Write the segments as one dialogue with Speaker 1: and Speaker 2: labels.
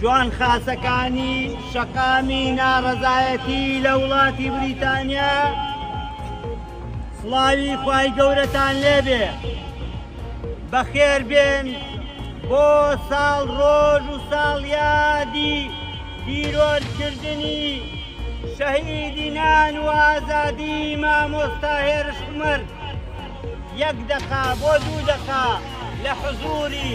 Speaker 1: جوان خاسەکانی شەقامی ناڕەزایەتی لە وڵاتی بریتانیا سڵاوی خوای گەورەتان لێبێ بەخێربێن بۆ ساڵ ڕۆژ و ساڵیادی تیرۆرکردنی شەهیدی نان و ئازادی مامۆستا هێرش عومەر یەک دەقا بۆ دوو دەقا لە حزوری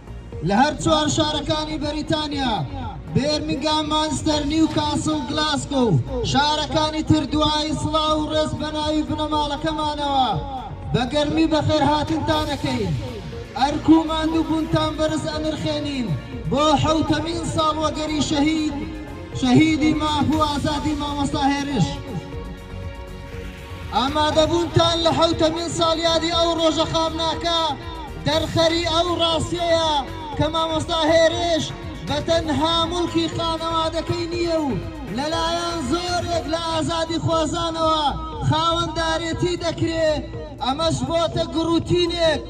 Speaker 2: لە هەر چوار شارەکانی بەریتانیا، بێرمینگام، مانچستەر، نیوکاسڵ، گلاسکۆ و شارەکانی تر دوعای سڵاو و ڕێز بە ناوی بنەماڵەکەمانەوە بە گەرمی بەخێرهاتنتان ئەکەین. ئەرک و ماندووبوونتان بەرز ئەنرخێنین بۆ حەوتەمین ساڵوەگەری شەهید شەهیدی ماف و ئازادی مامۆستا هێرش. ئامادەبوونتان لە حەوتەمین ساڵیادی ئەو ڕۆژە خامناکە دەرخەری ئەو ڕاستیەیە کە مامۆستا هێرش بە تەنها موڵکی خانەوادەکەی نییە و لەلایەن زۆرێک لە ئازادیخوازانەوە خاوەندارێتی دەکرێ، ئەمەش بۆتە گڕوتینێک،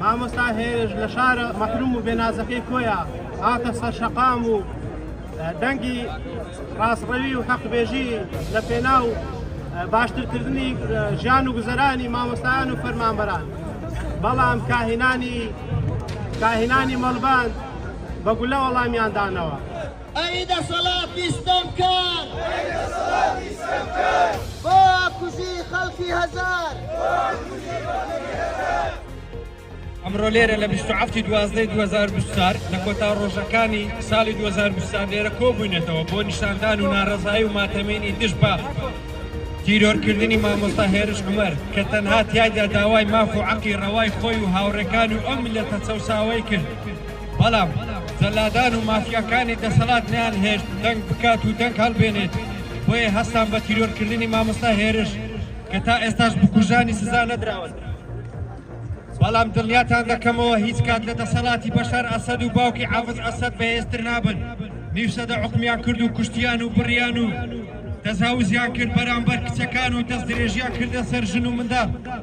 Speaker 3: مامۆستا هێرش لە شارە مەحروم و بێنازەکەی کۆیە هاتە سەرشەقام و دەنگی ڕاستڕەوی و حەقبێژی لە پێنا و باشترکردنی ژیان و گوزەرانی مامۆستایان و فەرمانبەران بەڵام کاهینانی کاهینانی مەڵبان بە گولە وەڵامیاندانەوە. ئەی
Speaker 2: دەسەڵاتی ستەمکار. ئەی دەسەڵاتی ستەمکار.
Speaker 4: بۆ کوژی خەڵکی هەزار. بۆ کوژی خەڵکی هەزار. ئەمڕۆ لێرە لە بیست و حەفتی دوازدەی دوو هەزار و بیست و چوار لە کۆتا ڕۆژەکانی ساڵی دوو هەزار و بیست و چوار لێرە کۆبووینەتەوە بۆ نیشاندان و ناڕەزایی و ماتەمینی دژ بە تیرۆرکردنی مامۆستا هێرش عومەر کە تەنها تیایدا داوای ماف و عەقی ڕەوای خۆی و هاوڕێکانی و ئەو میللەتە چەوساوەی کرد. بەڵام جەلادان و مافیاکانی دەسەڵات نەیانهێشت دەنگ بکات و دەنگ هەڵبێنێت، بۆیە هەستان بە تیرۆرکردنی مامۆستا هێرش کە تا ئێستاش بکوژانی سزا نەدراون. بەڵام دڵنیاتان دەکەمەوە هیچ کات لە دەسەڵاتی بەشار ئەسەد و باوکی حافز ئەسەد بەهێزتر نابن، نیو سەدە حوکمیان کرد و کوشتیان و بڕیان و تەجاوزیان کرد بەرامبەر کچەکان و دەستدرێژیان کردە سەر ژن و منداڵ.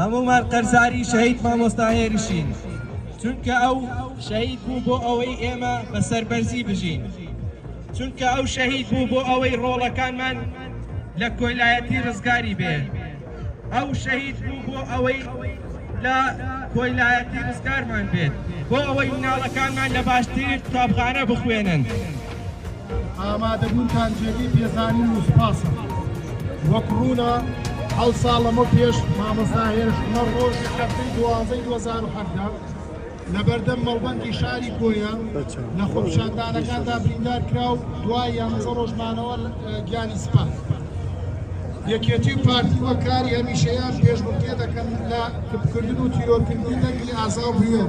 Speaker 5: هەموومان قەرزاری شەهید مامۆستا هێرشین، چونکە ئەو شەهید بوو بۆ ئەوەی ئێمە بە سەربەرزی بژین، چونکە ئەو شەهید بوو بۆ ئەوەی ڕۆڵەکانمان لە کۆیلایەتی ڕزگاری بێ، ئەو شەهید بوو بۆ ئەوەی لە کۆیلایەتی ڕزگارمان بێت، بۆ ئەوەی مناڵەکانمان لە باشترین قوتابخانە بخوێنن. ئامادەبوونتان
Speaker 6: جێگەی پێزانین و سوپاسە. وەک ڕوونە حەوت ساڵ لەمەو پێش مامۆستا هێرش عومەر ڕۆژی هەفتەی دوازدەی دوو هەزار و حەڤدە لە بەردەم مەڵبەندی شاری کۆیە لە خۆپیشاندانەکاندا بریندار کرا و دوای یانزە ڕۆژ مانەوە گیانی سپارد. یەکێتی و پارتی وەک کاری هەمیشەیان پێشبڕکێ دەکەن لە کپکردن و تیرۆرکردنی دەنگی ئازا و بوێر.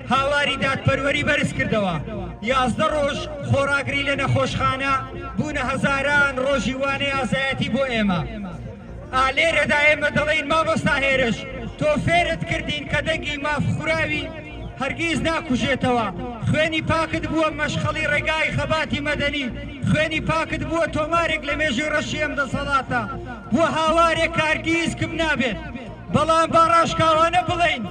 Speaker 1: هاواری دادپەروەری بەرزکردەوە، یازدە ڕۆژ خۆڕاگری لە نەخۆشخانە بوونە هەزاران ڕۆژی وانەی ئازایەتی بۆ ئێمە. ئا لێرەدا ئێمە دەڵێین مامۆستا هێرش تۆ فێرت کردین کە دەنگی مافخوراوی هەرگیز ناکوژێتەوە، خوێنی پاکت بووە مەشخەڵی ڕێگای خەباتی مەدەنی، خوێنی پاکت بووە تۆمارێک لە مێژووی ڕەشی ئەم دەسەڵاتە، بووە هاوارێک کە هەرگیز کپ نابێت. بەڵام با ڕاشکاوانە بڵێین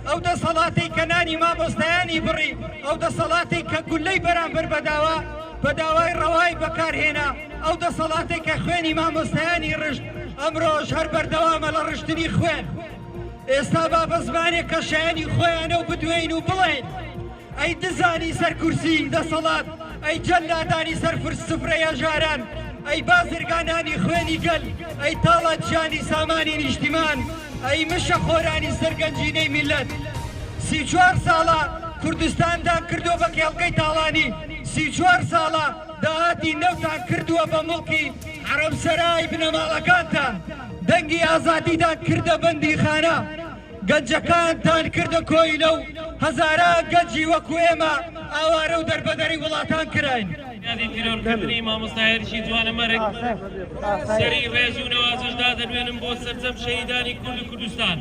Speaker 1: ئەو دەسەڵاتەی کە نانی مامۆستایانی بڕی ئەو دەسەڵاتی کە گولەی بەرامبەر بەداوە بە داوای ڕەوای بەکارهێنا ئەو دەسەڵاتێک کە خوێنی مامۆستایانی ڕشت ئەمرۆژ هەر بەردەوامە لە ڕشتنی خوێن ئێستا با بە زمانێک کە شایانی خۆیانە و بدوێین و بڵێن ئەی دزانی سەر کورسی دەسەڵات ئەی جەلادانی سەر فرس سفرەی هەژاران ئەی بازرگانانی خوێنی گەل ئەی تاڵانچیانی سامانی نیشتیمان ئەی مشە خۆرانی سەر گەنجینەی میلەت سی چوار ساڵە کوردستانتان کردووە بە کێڵگەی تاڵانی سی چوار ساڵە داهاتی نەوتان کردووە بە موڵکی حەرەمسەرای بنەماڵەکانتان دەنگی ئازادیتان کردە بەندیخانە گەنجەکانتان کردە کۆیلە و هەزاران گەنجی وەکو ئێمە ئاوارە و دەربەدەری وڵاتان کراین. یادی تیرۆر
Speaker 7: کردنی مامۆستا هێرشی جوانە مەرگ سەری ڕێز و نەوازش دادەنوێنم بۆ سەرجەم شەهیدانی کورد و کوردستان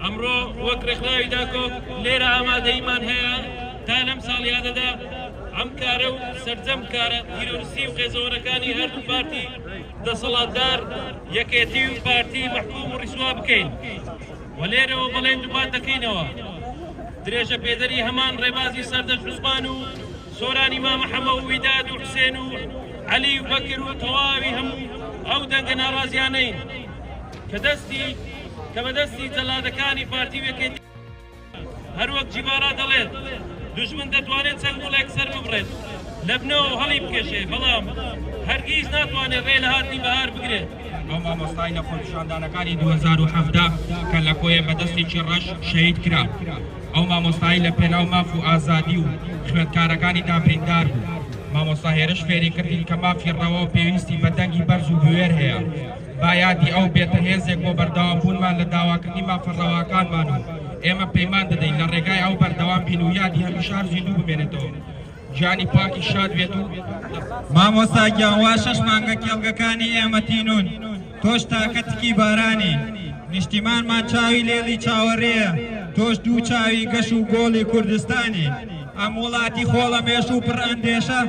Speaker 7: ئەمڕۆ وەک ڕێکخراوی داکۆک لێرە ئامادەیمان هەیە تا لەم ساڵیادەدا ئەم کارە و سەرجەم کارە تیرۆرسی و قێزەوەرەکانی هەردوو پارتی دەسەڵاتدار یەکێتی و پارتی مەحکوم و ڕیسوا بکەین و لێرەوە بەڵێن دووپات دەکەینەوە درێژە پێدەری هەمان ڕێبازی سەردەشت عوسمان و سۆرانی مامە حەمە و ویداد و حسێن و عەلی و بەکر و تەواوی هەموو ئەو دەنگە ناڕازیانەین کە دەستی کە بەدەستی جەلادەکانی پارتی وێکێتی هەروەک جیڤارا دەڵێت، دوژمن دەتوانێت چەند گوڵێک سەرببڕێت لە بنەوەو هەڵیبکێشێ، بەڵام هەرگیز ناتوانێت رێ لە هاتنی بەهار بگرێت. ئەو مامۆستای
Speaker 4: لە خۆپیشاندانەکانی دوو هەزار و حەڤدە کە لە کۆیە بە دەستێکی رەش شەهید کرا، ئەو مامۆستای لە پێناو ماف و ئازادی و خوێندکارەکانیدا بریندار بوو. مامۆستا هێرش فێری کردین کە مافی رەواو پێویستی بە دەنگی بەرز و بوێر هەیە. با یادی ئەو بێتە هێزێک بۆ بەردەوام بوونمان لە داواکردنی مافە ڕەواکانمان و ئێمە پەیمان دەدەین لە ڕێگای ئەو بەردەوام بین و یادی هەمیشە هەر زیندوو بمێنێتەوە گیانی پاکی شاد بێت و مامۆستا
Speaker 8: گیان وا شەش مانگە کێڵگەکانی ئێمە تینوون تۆش تاکە تکی بارانی نیشتیمانمان چاوی لێڵی چاوەڕێیە تۆش دوو چاوی گەش و گۆڵی کوردستانی ئەم وڵاتی خۆڵەمێش و پڕ ئەندێشە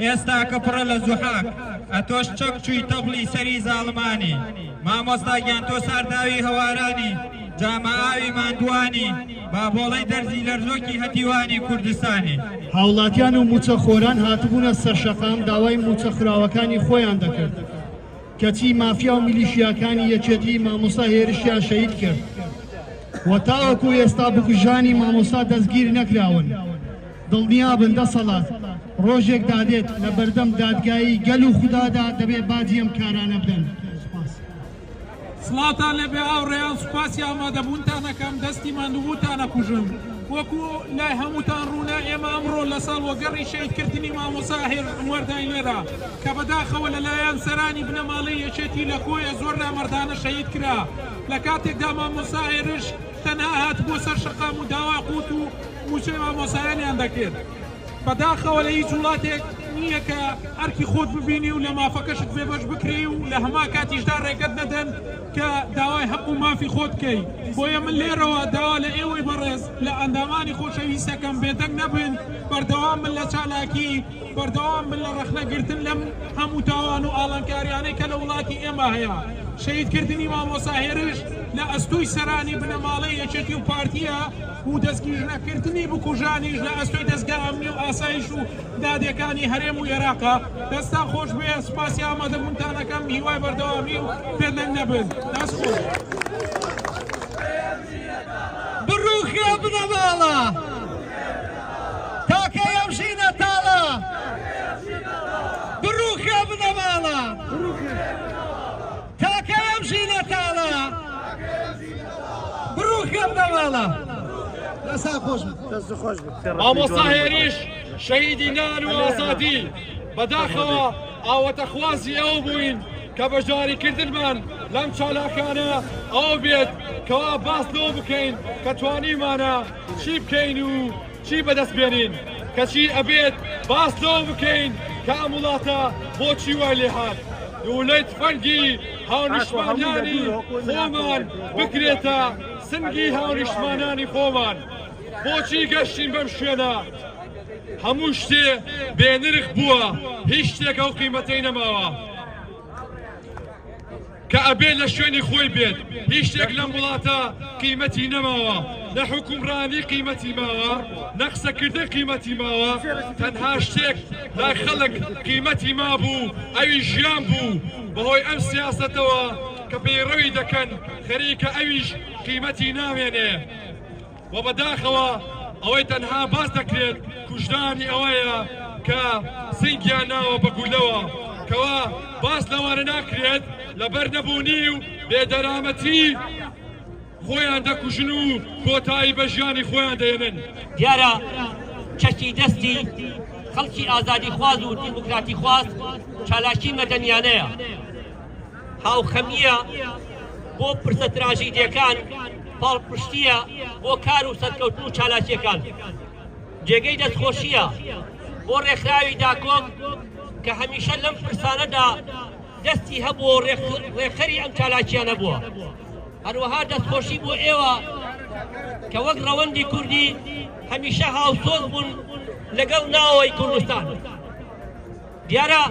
Speaker 8: ئێستا کە پڕە لە زوحاک ئەتۆش چەک چوی تەبلی سەری زاڵمانی مامۆستا گیان تۆ سارداوی هەوارانی جامە ئاوی ماندوانی بابۆڵەی دەرزی لەرزۆکی هەتیوانی کوردستانی. هاوڵاتیان و
Speaker 6: موچە خۆران هاتبونە سەرشەقام داوای موچە خراوەکانی خۆیان دەکرد کەچی مافیا و میلیشیاکانی یەکێتی مامۆستا هێرشیان شەهید کرد و تاوەکو ئێستا بکوژانی مامۆستا دەستگیر نەکراون. دڵنیابن دەسەڵات ڕۆژێک دادێت لە بەردەم دادگایی گەل و خودادا دەبێ باجی ئەم کارانە بدەن. سوپاس. سڵاوتان
Speaker 9: لێبێ هاوڕێیان سوپاسی ئامادەبوونتانەکەم دەستی ماندووبووتان ئەکوژم وەکو لای هەمووتان ڕوونە ئێمە ئەمڕۆ لە ساڵ وەگەڕی شەیدکردنی مامۆسا هێر عمەرداین لێرە کە بەداخەوە لەلایەن سەرانی بنەماڵەی یەکێتی لە کۆیە زۆر نامەردانە شەهید کرا لە کاتێکدا مامۆسا هێرش تەنها هاتبوە سەر شەقام و داوا قوت و موچەی مامۆسایانیان دەکرد بەداخەوە لە هیچ وڵاتێک نییە کە ئەرکی خۆت ببینی و لە مافەکەشت بێبەش بکرێی و لە هەمان کاتیشدا ڕێگەت نەدەن کە داوای هەق و مافی خۆت بکەی بۆیە من لێرەوە داوا لە ئێوەی بەڕێز لە ئەندامانی خۆشەویستەکەم بێدەنگ نەبن بەردەوام بن لە چالاکی بەردەوام بن لە ڕەخنە گرتن لەم هەموو تاوان و ئاڵنکاریانەی کە لە وڵاتی ئێمە هەیە. شەهید کردنی مامۆستا هێرش لە ئەستۆی سەرانی بنەماڵەی یەکێتی و پارتیە و دەستگیرژ نەکردنی بکوژانیش لە ئەستۆی دەزگا ئەمنی و ئاسایش و دادێکانی هەرێم و ئێراقە. دەستتان خۆش بێ سوپاسی ئامادە بونتان ئەکەم هیوای بەردەوامی و بێدەنگ نەبن. دەست خۆش. بڕوخێ
Speaker 1: بنەماڵە. تاکەی ئەم ژینە تاڵە بڕووخێ بنەماڵە تاکەی ئەم ژینە تاڵە بڕووخێ بنەماڵە
Speaker 2: لەسا خۆش
Speaker 7: مامۆستا هێریش شەهیدی نان و ئازادی بەداخەوە ئاوەتە خوازی ئەو بووین کە بەشداریکردنمان لەم چالاکانە ئەو بێت کەوا باس لەوە بکەین کە توانیمانە چی بکەین و چی بەدەست بێنین؟ کەچی ئەبێت باس لەوە بکەین کە ئەم وڵاتە بۆچی وای لێ هات دوولەی تفەنگی هاونیشتمانیانی خۆمان بکرێتە سنگی هاونیشتمانانی خۆمان بۆچی گەشتین بەم شوێنە هەموو شتێ بێنرخ بووە هیچ شتێکە و قیمەتەی نەماوە. کە ئەبێت لە شوێنی خۆی بێت هیچ شتێک لەم وڵاتە قیمەتی نەماوە نە حکومڕانی قیمەتی ماوە نە قسەکردن قیمەتی ماوە تەنها شتێک لای خەڵک قیمەتی مابوو ئەوی ژیان بوو بەهۆی ئەم سیاستەوە کە پەیڕەوی دەکەن خەریکە ئەویش قیمەتی نامێنێ وە بەداخەوە ئەوەی تەنها باس دەکرێت کوژرانی ئەوەیە کە سنگیان ناوە بە گولەوە کەوا باس لەوانە ناکرێت لەبەر نەبوونی و بێدەرامەتی خۆیان دەکوژن و کۆتایی بە ژیانی خۆیان دێنن دیارە
Speaker 10: چەکی دەستی خەڵکی ئازادی خواز و دیموکراتی خواز چالاکی مەدەنیانەیە هاوخەمییە بۆ پرسە تراژیدیەکان، پاڵپشتییە بۆ کار و سەرکەوتن و چالاکیەکان. جێگەی دەستخۆشییە بۆ ڕێکخراوی داکۆک کە هەمیشە لەم پرسانەدا دەستی هەبووە و ڕێکخەری ئەم چالاکیانە بووە. هەروەها دەستخۆشی بۆ ئێوە کە وەک ڕەوەندی کوردی هەمیشە هاوسۆز بوون لەگەڵ ناوەوەی کوردستان. دیارە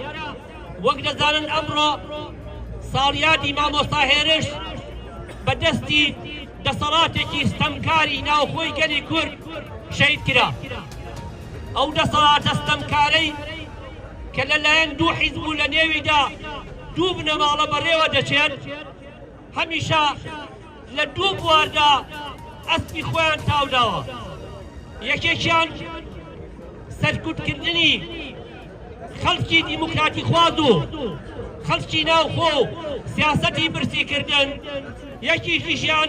Speaker 10: وەک دەزانن ئەمڕۆ ساڵیادی مامۆستا هێرش بە دەستی دەسەڵاتێکی ستەمکاری ناوخۆی گەلی کورد شەید کرا ئەو دەسەڵاتە ستەمکارەی کە لەلایەن دوو حیزب و لە نێویدا دوو بنەماڵە بەڕێوە دەچێت هەمیشە لە دوو بواردا ئەسپی خۆیان تاوداوە یەکێکیان سەرکوتکردنی خەڵکی دیموکراتی خواز و خەڵکی ناوخۆ و سیاسەتی برسیکردن یەکیکیشیان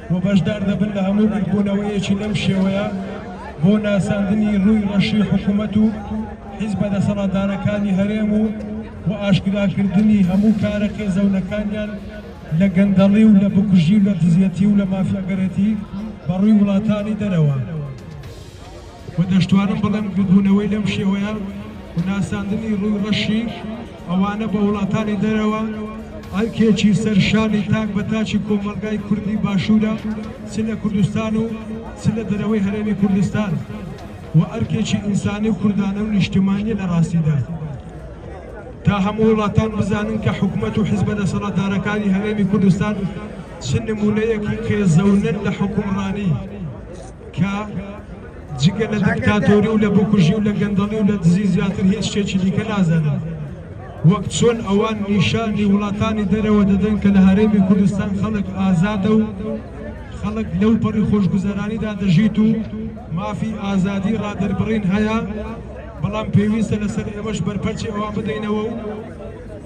Speaker 11: و بەشدار دەبن لە هەموو بیربوونەوەیەکی لەم شێوەیە بۆ ناساندنی ڕووی ڕەشی حکوومەت و حیزبە دەسەڵاتدارەکانی هەرێم و و ئاشکراکردنی هەموو کارە قێزەونەکانیان لە گەندەڵی و لە بکوژی و لە دزیەتی و لە مافیاگەرێتی بەڕووی وڵاتانی دەرەوە. و دەشتوانم بڵێم ببوونەوەی لەم شێوەیە و ناساندنی ڕووی ڕەشی ئەوانە بە وڵاتانی دەرەوە ئەرکێکی سەر شانی تاک بە تاکی کۆمەڵگای کوردی باشوورە چ لە کوردستان و چ لە دەرەوەی هەرێمی کوردستان و ئەرکێکی ئینسانی و کوردانە و نیشتمانیە لە ڕاستیدا تا هەموو وڵاتان بزانن کە حکوومەت و حزبە دەسەڵاتدارەکانی هەرێمی کوردستان چ نمونەیەکی قێزەونن لە حکومڕانی کە جگە لە دیکتاتۆری و لە بکوژی و لە گەندەڵی و لە دزی زیاتر هیچ شتێکی دیکە نازانن وەک چۆن ئەوان نیشانی وڵاتانی دەرەوە دەدەن کە لە هەرێمی کوردستان خەڵک ئازادە و خەڵک لەو پەڕی خۆشگوزەرانیدا دەژیت و مافی ئازادی ڕادەربڕین هەیە بەڵام پێویستە لەسەر ئێمەش بەرپەرچی ئەوان بدەینەوە و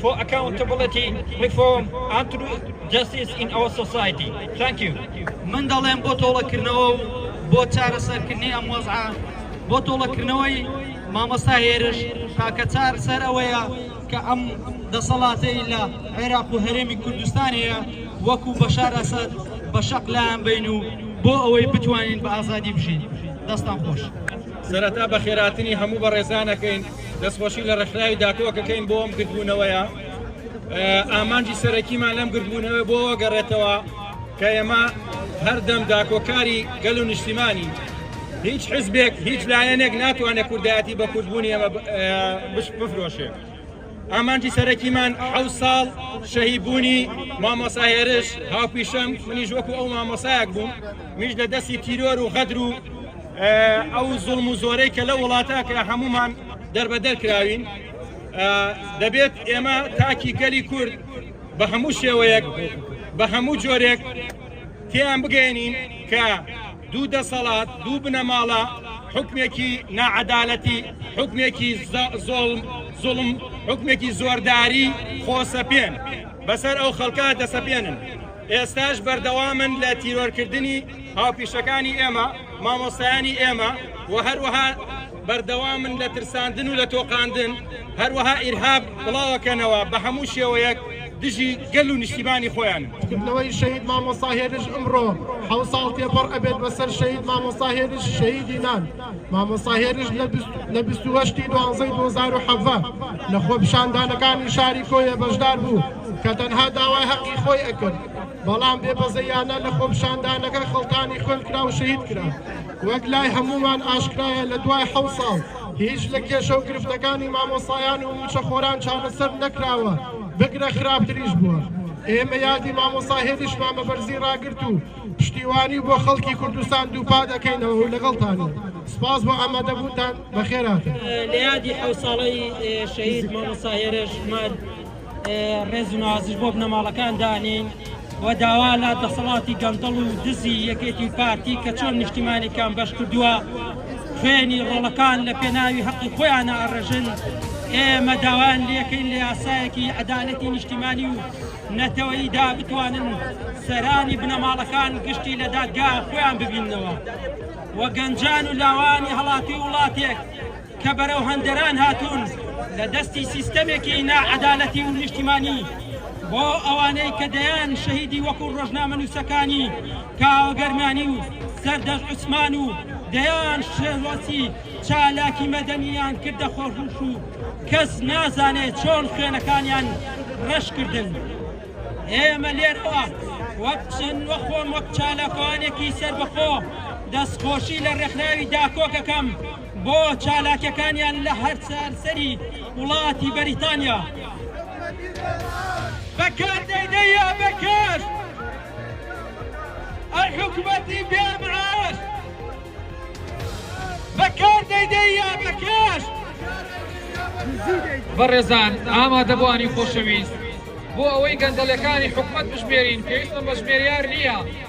Speaker 12: فۆ ئەکاونتە بڵێتی ڕیفۆم ئەند ترو جەستیس ئین ئەوەر سۆسایتی ثانکیو. من دەڵێم بۆ
Speaker 13: تۆڵەکردنەوە و بۆ چارەسەرکردنی ئەم وەزعە بۆ تۆڵەکردنەوەی مامۆستا هێرش تاکە چار سەر ئەوەیە کە ئەم دەسەڵاتەی لە عێراق و هەرێمی کوردستان هەیە وەکو بەشار ئەسەد بە شەق لایان بەین و بۆ ئەوەی بتوانین بە ئازادی بژین دەستان خۆش. سەرەتا
Speaker 4: بەخێراتنی هەموو بەڕێزانەکەین. دەستخۆشی لە ڕێکخراوی داکۆکەکەین بۆ ئەم گردبوونەوەیە ئامانجی سەرەکیمان لەم گردبوونەوە بۆ گەڕێتەوە کە ئێمە هەردەم داکۆکاری گەل و نیشتیمانی هیچ حزبێک هیچ لایەنێک ناتوانێت کوردایەتی بە کوردبوونی ئەمە بفرۆشێ ئامانجی سەرەکیمان حە ساڵ شەهیبوونی مامۆساهێرش هاوپیشەم منیش وەکو ئەو مامۆسایەک بووم میش لە دەستی تیرۆر و غەدر و ئەو زوڵم و زۆرەی کە لە وڵاتە کرا هەمومان دەربەدەر کراوین دەبێت ئێمە تاکی گەلی کورد بە هەموو شێوەیەک بە هەموو جۆرێک تیان بگەێنین کە دوو دەسەڵات دوو بنەماڵە حکمێکی ناعەدالەتی حکمێکی زۆڵم زوڵم حکمێکی زۆرداری خۆسەپێن بەسەر ئەو خەڵکە دەسەپێنن ئێستاش بەردەوامن لە تیرۆرکردنی هاوپیشەکانی ئێمە، مامۆستایانی ئێمە و هەروەها بەردەوامن لە ترساندن و لە تۆقاندن، هەروەها ئیرهاب بڵاوەکەنەوە بە هەموو شێوەیەک دژی گەل و نیشتیمانی خۆیان. کردنەوەی شەهید
Speaker 6: مامۆستا هێرش ئمڕۆ حەوت ساڵ تێپەڕ ئەبێت بەسەر شەهید مامۆستا هێرش شەهیدی نان مامۆستا هێرش لە بیست و هەشت ی دوانزەی دوو هەزار و حەڤدە لە خۆپیشاندانەکانی شاری کۆیە بەشدار بوو کە تەنها داوای هەقی خۆی ئەکرد بەڵام بێ بەزەیانە لە خۆپیشاندانەکە خەڵتانی خوێن کرا و شەهید کرا. وەک لای هەموومان ئاشکرایە لە دوای حەوت ساڵ هیچ لە کێشە و گرفتەکانی مامۆستایان و مووچەخۆران چارەسەر نەکراوە، بگرە خراپتریش بووە. ئێمە یادی مامۆستا هێدیشمان بە بەرزی ڕاگرت و پشتیوانی بۆ خەڵکی کوردستان دووپا دەکەینەوە و لەگەڵتانین. سپاس بۆ ئامادەبوونتان، بەخێرهاتن. لە یادی
Speaker 13: حەوت ساڵەی شەهید مامۆستا هێرش مەرد، ڕێز و نازش بۆ بنەماڵەکان دانین و داوا لە دەسەڵاتی گەندەڵ و دزی یەکێتی پارتی کە چۆن نیشتیمانێکیان بەش کردووە خوێنی ڕۆڵەکان لە پێناوی هەقی خۆیان ئاڕژن ئێمە داوان لەکەین لە یاسایەکی عدالەتی نیشتیمانی و نەتەوەیدا بتوانن سەرانی بنەماڵەکان گشتی لە دادگا خۆیان ببینەوە و گەنجان و لاوانی هەڵاتی وڵاتێک کە بەرەو هەندەران هاتوون لە دەستی سیستەمێکی ناعەدالەتی و نیشتیمانی بۆ ئەوانەی کە دەیان شەهیدی وەکو ڕۆژنامەنووسەکانی کاوە گەرمیانی و سەردەش عوسمان و دەیان شێرۆسی چالاکی مەدەنیان کردە خۆشوش و کەس نازانێ چۆن خوێنەکانیان ڕەش کردن ئێمە لێرەوە وەک چەند وە خۆم وەک چالاکوانێکی سەربەخۆ دەستخۆشی لە ڕێکخراوی داکۆکەکەم بۆ چالاکیەکانیان لە هەر سەرانسەری وڵاتی بەریتانیا. بەکار دەیدەیە بەکار ئەی حکومەتی بێ معاش بەکار دەیدەیە بەکار
Speaker 14: بەڕێزان ئامادەبوانی خۆشەویست بۆ ئەوەی گەندەڵەکانی حکومەت بژمێرین پێویستمان بە ژمێریار نییە.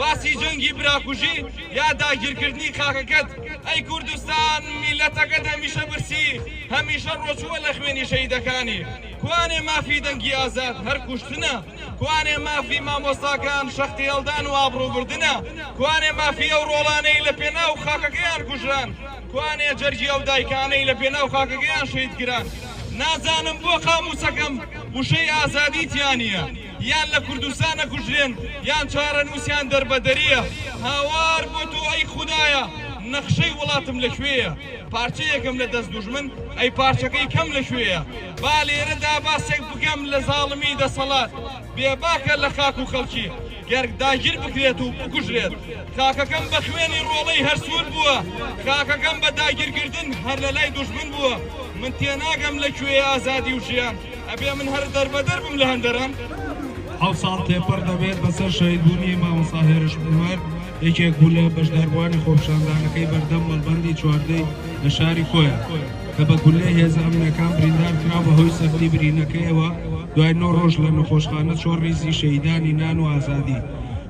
Speaker 15: باسی جەنگی براکوژی یا داگیرکردنی خاکەکەت ئەی کوردستان میلەتەکەت هەمیشە برسی هەمیشە ڕۆچووە لە خوێنی شەیدەکانی کوانێ مافی دەنگی ئازاد هەر کوشتنە کوانێ مافی مامۆستاکان شەختی هەڵدان و ئابڕوبردنە کوانێ مافی ئەو ڕۆڵانەی لە پێناو خاکەکەیان کوژران کوانێ جەرگی ئەو دایکانەی لە پێناو خاکەکەیان شەیدکران نازانم بۆ قاموسەکەم وشەی ئازادی تیانە یان لە کوردستان ئەکوژرێن یان چارەنوسیان دەربەدەریە هاوار بۆ تۆ ئەی خودایە نەخشەی وڵاتم لە کوێیە پارچەیەکم لە دەست دوژمن ئەی پارچەکەی کەم لە کوێیە با لێرەدا باسێک بکەم لە زاڵمی دەسەڵات بێباکە لە خاک و خەڵکی گەر داگیر بکرێت و بکوژرێت خاکەکەم بە خوێنی ڕۆڵەی هەرسوود بووە خاکەکەم بە داگیرکردن هەر لە لای دوژمن بووە من تێناگەم لە کوێ ئازادی و ژیان ئەبێ من هەر دەربەدەر بم لە هەندەران. حەوت ساڵ
Speaker 16: تێپەڕ دەبێت بەسەر شەهیدبوونی مامۆستا هێرش عومەر، یەکێک بوو لە بەشداربووانی خۆپیشاندانەکەی بەردەم مەڵبەندی چواردەی لە شاری کۆیە، کە بە گوللەی هێزە ئەمنییەکان بریندارکرا، بەهۆی سەختی برینەکەیەوە دوای نۆ رۆژ لە نەخۆشخانە چۆڕ ریزی شەهیدانی نان و ئازادی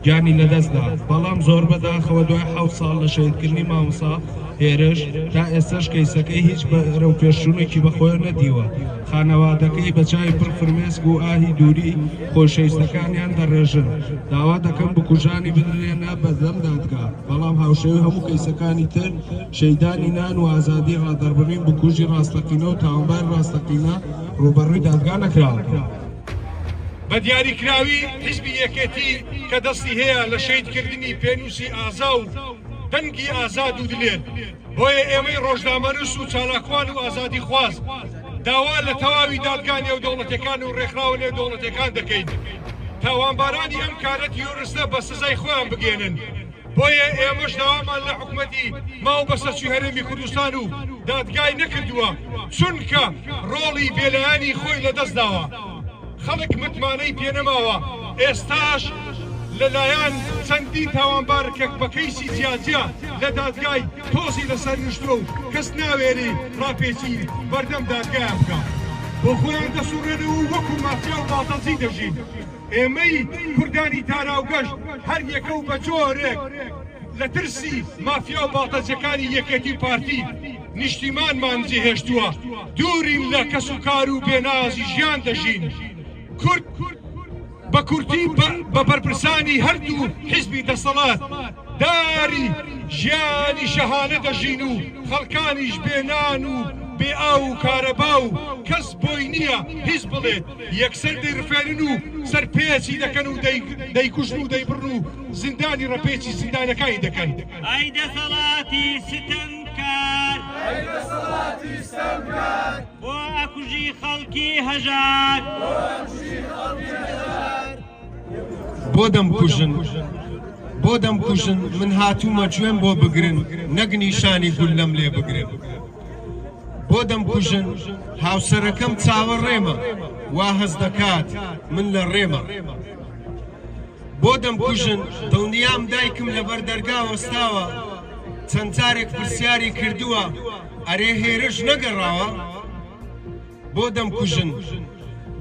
Speaker 16: گیانی لەدەستدا، بەڵام زۆربەداخەوە دوای حەوت ساڵ لە شەهیدکردنی مامۆستا، هێرش، تا ئێستەش کەیسەکەی هیچ بەرەوپێشچوونێکی بەخۆیەوە نەدیوە، خانەوادەکەی بە چاوی پڕ فرمێسک و ئاهی دووری خۆشەویستەکانیان دەڕێژن، داوا دەکەن بکوژانی بدرێنە بەردەم دادگا، بەڵام هاوشێوەی هەموو کەیسەکانی تر شەیدانی نان و ئازادی ڕادەربڕین بکوژی ڕاستەقینە و تاوانباری ڕاستەقینە ڕووبەڕووی دادگا نەکراون. بە دیاریکراوی حیزبی یەکێتی کە دەستی هەیە
Speaker 6: لە شەهیدکردنی پێنووسی ئازا و. دەنگی ئازاد و دلێر، بۆیە ئێمەی ڕۆژنامەنووس و چالاکوان و ئازادیخواز داوا لە تەواوی دادگا نێودەوڵەتیەکان و ڕێکخراوە نێودەوڵەتیەکان دەکەین تاوانبارانی ئەم کارە تیرۆرستە بە سزای خۆیان بگەێنن بۆیە ئێمەش داوامان لە حکومەتی ماو بەسەرچی هەرێمی کوردستان و دادگای نەکردووە چونکە ڕۆڵی بێلایانی خۆی لەدەست داوە. خەڵک متمانەی پێ نەماوە، ئێستاش لە لایەن چەندین تاوانبار کە بە کەیسی جیا جیا لە دادگای تۆزی لە سەر نیشتووە و کەس ناوێری ڕاپێچی بەردەم دادگایان بکا بۆ خۆیان دەسوڕێنەوە و وەکوو مافیا و باڵتەجی دەژین. ئێمەی کوردانی تارا و گەشت هەر یەکە و بە جۆرێک لە ترسی مافیا و باڵتەجەکانی یەکێتی و پارتی، نیشتیمانمان جێهێشتووە، دوورین لە کەسوکار و بێنازی ژیان دەژین. کورد بە کورتی بە بەرپرسانی هەردوو حیزبی دەسەڵات داری ژیانی شەهانە دەژین و خەڵکانیش بێ نان و بێ ئاو و کارەبا و کەس بۆی نییە هیچ بڵێت یەکسەر دەیڕفێنن و سەرپێچی دەکەن و دەیکوژن و دەیبڕن و زیندانی ڕەپێچی زیندانەکانی دەکەن. ئای دەسەڵاتی
Speaker 17: ستەم! کار ئەی دەسەڵاتی ستەمکار بۆ ئەکوژی خەڵکی هەژار
Speaker 18: بۆ ئەکوژی خەڵکی هەژار بۆ دەمکوژن بۆ دەمکوژن من هاتوومە گوێم بۆ بگرن نەک نیشانی گول لەم لێ بگرن بۆ دەمکوژن هاوسەرەکەم چاوە ڕێمە وا هەز دەکات من لە ڕێمە بۆ دەمکوژن دڵنیام دایکم لەبەر دەرگا وەستاوە چەند جارێک پرسیاری کردووە ئەرێ هێرش نەگەڕاوە بۆ دەمکوژن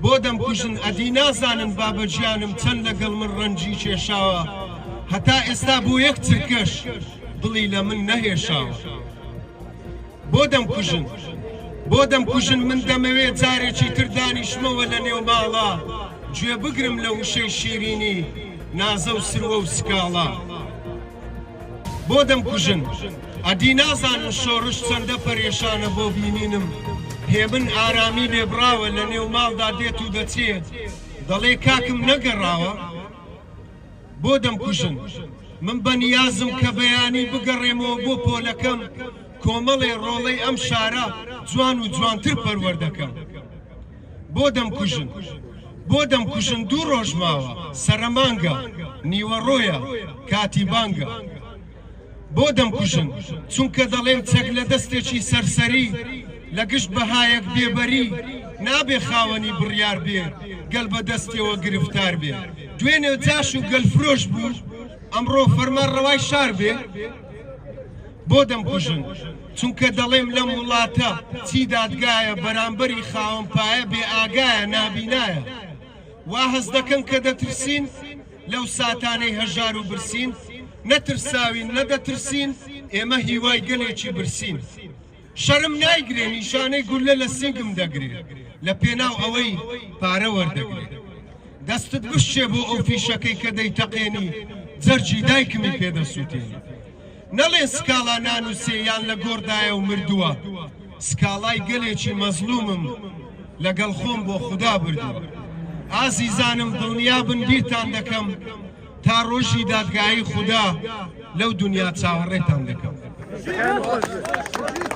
Speaker 18: بۆ دەمکوژن ئەدی نازانن بابە گیانم چەند لەگەڵ من ڕەنجی کێشاوە هەتا ئێستا بۆ یەک چرکەش دڵی لە من نەهێشاوە. بۆ دەمکوژن؟ بۆ دەمکوژن؟ من دەمەوێ جارێکی تر دانیشمەوە لە نێو ماڵا، گوێ بگرم لە وشەی شیرینی نازە و سروە و سکاڵا. بۆ دەمکوژن؟ ئەدی نازانن شۆڕش چەندە پەرێشانە بۆ بینینم، هێمن ئارامی لێبڕاوە لە نێو ماڵدا دێت و دەچێ، دەڵێ کاکم نەگەڕاوە؟ بۆ دەمکوژن؟ من بە نیازم کە بەیانی بگەڕێمەوە بۆ پۆلەکەم، کۆمەڵێ ڕۆڵەی ئەم شارە جوان و جوانتر پەروەردەکەم. بۆ دەمکوژن؟ بۆ دەمکوژن دوو ڕۆژ ماوە، سەرەمانگە، نیوەڕۆیە، کاتی بانگە. بۆ دەمکوژن چونکە دەڵێم چەک لە دەستێکی سەرسەری لە گشت بەهایەک بێ بەری نابێ خاوەنی بڕیار بێ گەل بە دەستیەوە گرفتار بێ دوێنێ جاش و گەل فرۆش بوو ئەمڕۆ فەرمان ڕەوای شار بێ بۆ دەمکوژن چونکە دەڵێم لەم وڵاتە چی دادگایە بەرامبەری خاوەن پایە بێ ئاگایە نابینایە وا هەز دەکەن کە دەترسین لەو ساتانەی هەژار و برسین، نەترساوین، نەدەترسین، ئێمە هیوای گەلێکی برسین. شەرم نایگرێ، نیشانەی گوللە لە سینگم دەگرێ، لە پێناو ئەوەی پارە وەردەگرێ. دەستت بشکێ بۆ ئەو فیشەکەی کە دەیتەقێنی، جەرگی دایکمی پێ دەسووتێنی. نەڵێن سکاڵا نانووسێ یان لە گۆڕدایە و مردووە، سکاڵای گەلێکی مەزڵوومم لەگەڵ خۆم بۆ خودا بردووە. ئازیزانم دڵنیا بن بیرتان دەکەم تا ڕۆژی دادگایی خودا لەو دونیا چاوەڕێتان دەکەم.